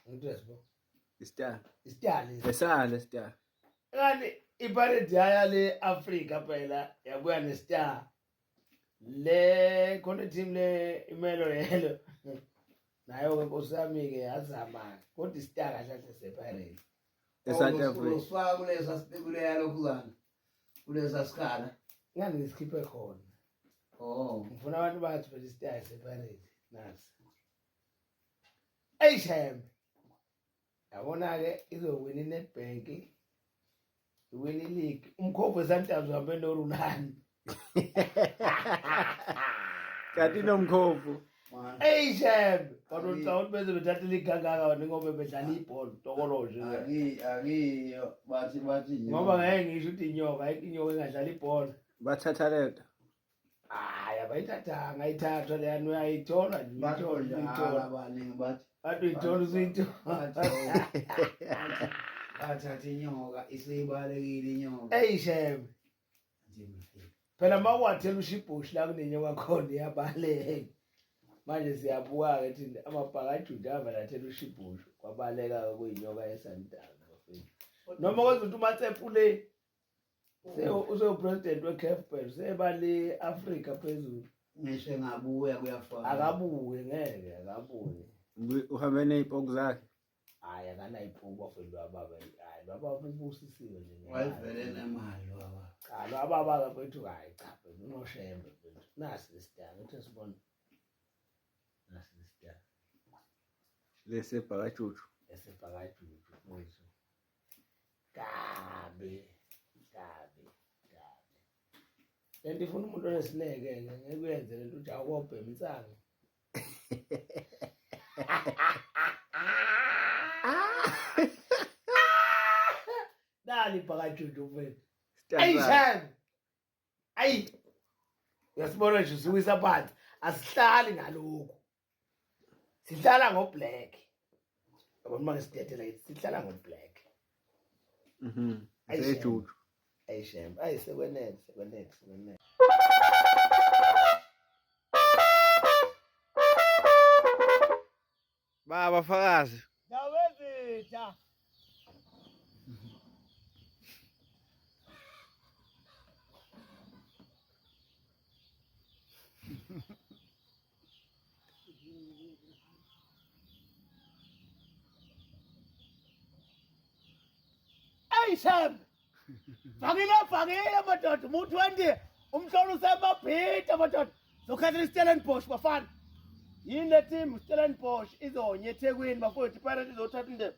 ngidress bo istar istar lesale istar kanti iparade yaya le Africa phela yabuya ne star le khona team le imelo yelo nayo ke nkosi yami ke yazama kodwa istar kahle kahle sepirate esantafrika usifaka kulesa sibekule yalokhuzana kuleza sikhala ngani ngisikhiphe khona oh ngifuna abantu bathi phela isitayi separate nasi eyi shembe yabona-ke izowina inetbank iwina iligi umkhombo wesantazi uhambe norulani kanti nomkhombo Man. eyi shem kodwa Angi- ngicabanga ukuthi beze bethatha iligangaka wena ngoba bedlala ibhola tokolo nje Angi- angiyo bathi bathi nyo. ngoba ngeke ngisho ukuthi inyoka ayikho inyoka engadlala ibhola bathatha lento hayi abayithathanga ayithathwa leyani uyayithola nje Bathi uyithola udlala uyithola abaningi bathi bathi uyithola usuyithola bathatha inyoka isibalekile inyoka eyi shem phela uma uwathela usho ibhoshu la kunenye kwakhona iyabaleka manje siyabuka-ke thina amabhaka ajuda avele athela usho ibhoshu kwabaleka-ke kuyinyoka yesanidana bafethu noma kwenza ukuthi umatsepu le usewu-president we-caf phela useba le afrika phezulu ngisho engabuya kuyafana akabuye ngeke akabuye uhambe ney'poku zakhe Hayi akanayiphuku bafethu lwababa hayi lwababa ubusisiwe nje. Wayivele nemali lwababa. Cha lwababa bafethu hayi cha bafethu unoshembe bafethu. Nasi lesidanga uthi sibona. Nasi lesidanga. Lesebhakajuju. Lesebhakajuju mfethu. Kabi kabi kabi. Lento ifuna umuntu onesineke ngeke uyenze lento uthi awukobhema insangu. Dali bhakajudu mfethu. Ayi shame. Ayi. Uyasibona nje siwisa phansi. Asihlali ngalokhu. Sihlala ngoblack. yabona uma ngisidedela yithi sihlala ngo-black Mhm. Ayi, shame. Zejuju. ayi shem ayi sekwenele sekwenele sekwenele Baba fakazi. Dawezitha. Hey Sam! Fakile fakile madoda umuntu wendi umhlolo usemabhida madoda zokhathela iStellenbosch bafana. Yini le team Stellenbosch izonye eThekwini bafowethu iPirates izothatha indebe.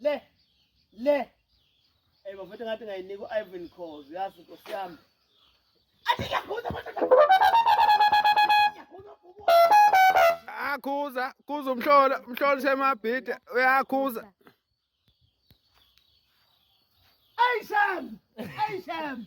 Le. Le. Hey bafethu ngathi ngayinika uIvan Cause yazi inkosi yami. Athi ngiyakhuza bafethu. Akhuza, kuza umhlola, umhlola usemabhida, uyakhuza. Hey Sam! Hey Sam!